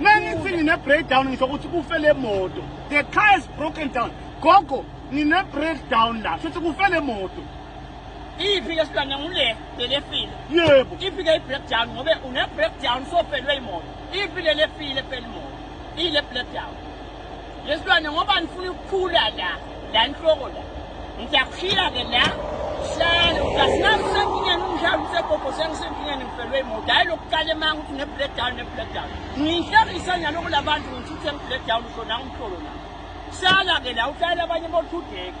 Mengithi ngine breakdown ngisho ukuthi kufe le moto. The car is broken down. Gogo ngine breakdown la. Futhi kufe le moto. Iphi ke silwane ngule belefile. Yebo. Iphi ke i breakdown ngobe une breakdown so felwe imoto. Iphi lelefile felwe imoto. Ile breakdown. Lesilwane ngoba ngifuna ukukhula la la nhloko la. Ngiyaphila ke la. Hlala ukasinamsenkingeni umdlalo usegogo sengisenkingeni ngifelwe imoto hayi lokuqala emanga ukuthi ne-breakdown ne-breakdown ngiyihlekisa nyaloko labantu ngithi uthe ngi-breakdown usho nawo umhlolo la hlala ke la uhlala abanye bothudeki